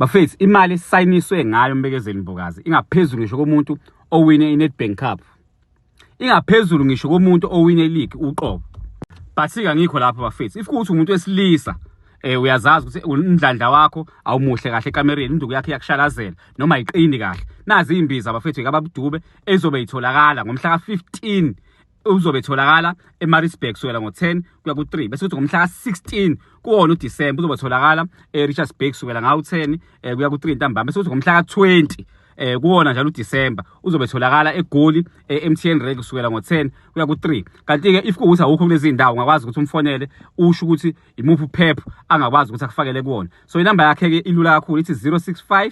Bafethu imali esisayiniswe ngayo Mbekezeli Mbokazi ingaphezulu ngisho komuntu owine iNedbank Cup. Ingaphezulu ngisho komuntu owine league uqobo. Basika ngikho lapho bafethu. If kuthi umuntu wesilisa eh uyazazi ukuthi umdlandla wakho awumuhle kahle ekamereni induku yakhe yakushalazela noma iqini kahle. Nazi imbiza bafethu ekababudube ezobe itholakala ngomhla ka 15 uzobe etholakala eMaritzburg kusukela ngo-10 kuya ku-3 bese kuthi ngomhla ka-16 kuwona uDisemba uzobe etholakala eRichards Bay kusukela ngawu-10 um eh, kuya ku-3 ntambama bese kuthi ngomhla ka-20 eh kuwona njalo uDisemba uzobe tholakala eGoli eMTN eh, Rank kusukela ngo10 kuya ku3 kanti ke if kuwuthi awukho kulezi ndawo ungakwazi ukuthi umfonele usho ukuthi imuphi uphepho angakwazi ukuthi akufakele kuwona so inamba yakhe ke ilula kakhulu ithi 065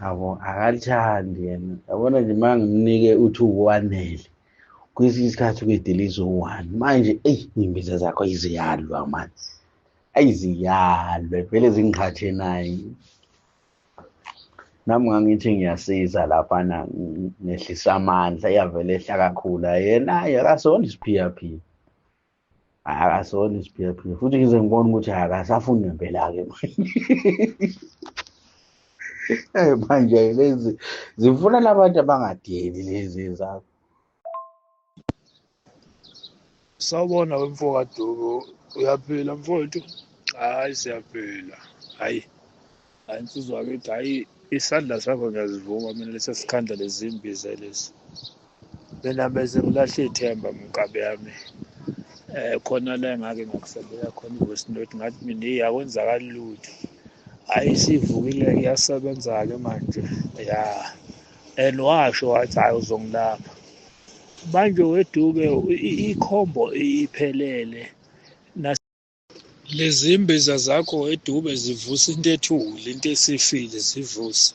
yabo akalithandi yena yabona nje uma ngimnike uthi uwanele kwesinye isikhathi kuyediliza uwani manje eyi iy'mbiza zakho iziyalwa mani ayiziyalwe vele zingqhathe naye nami ngangithi ngiyasiza laphana ngehlisa amandla iyavele ehla kakhulu yena ayi akasona isiphiyaphia akasona isiphilaphila futhi ngize ngibona ukuthi akasafuni ngempela-ke eh, manje lezi zifuna labantu abangadeli lezi zakho sawubona wemfokaduku uyaphila mfowethu hayi siyaphila hayi hayi nsizwa wakithi hayi isandla sakho ngiyazivuma mina lesi sikhandla lezimbiza lesi mina bese ngilahle ithemba mkabe yami eh khona la engake ngakusendela khona i-voice note ngathi mina eyi akwenzakali lutho hhayi isivukile iyasebenza-ke manje ya and washo wathi hhayi uzongilapha manje weduke ikhombo iphelele lezimbiza zakho edube zivusa into ethule into esifile zivusa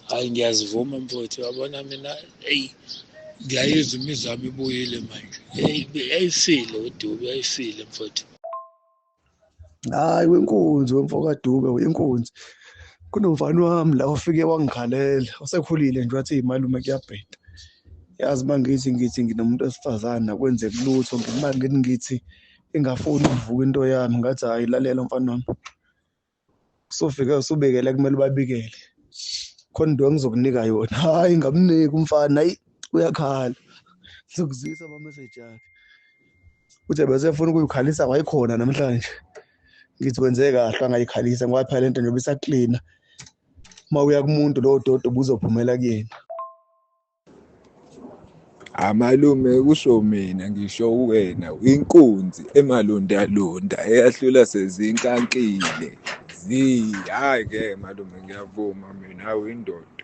hayi ngiyazivuma mfowethu yabona mina eyi ngiyayizwa imizwa yami ibuyile manje yayifile udube yayifile mfowethu hayi wenkunzi wemfokadube uyinkunzi kunomfana wami la ufike wangikhalela osekhulile nje wathi malume kuyabheda yazi uma ngithi ngithi nginomuntu wesifazane akwenzeki lutho ngimangeni ngithi ingafuni ukuvuka into yami ngathi hayi lalela mfana wami kusofike usubekele kumele ubabikele khona into engizokunika yona hayi ngamniki umfana hayi uyakhala ngizokuzisa amameseji akhe uthe bese efuna ukuyikhalisa wayikhona namhlanje ngithi wenze kahle angayikhalisa ngoba phela lento njengoba isaklina uma uya kumuntu lowo doti ubuzophumela kuyena Amalume kusho mina ngisho uwena inkunzi emalundalunda eyahlula sezinkankile zi hhayi-ke malume ngiyavuma mina awu indoda.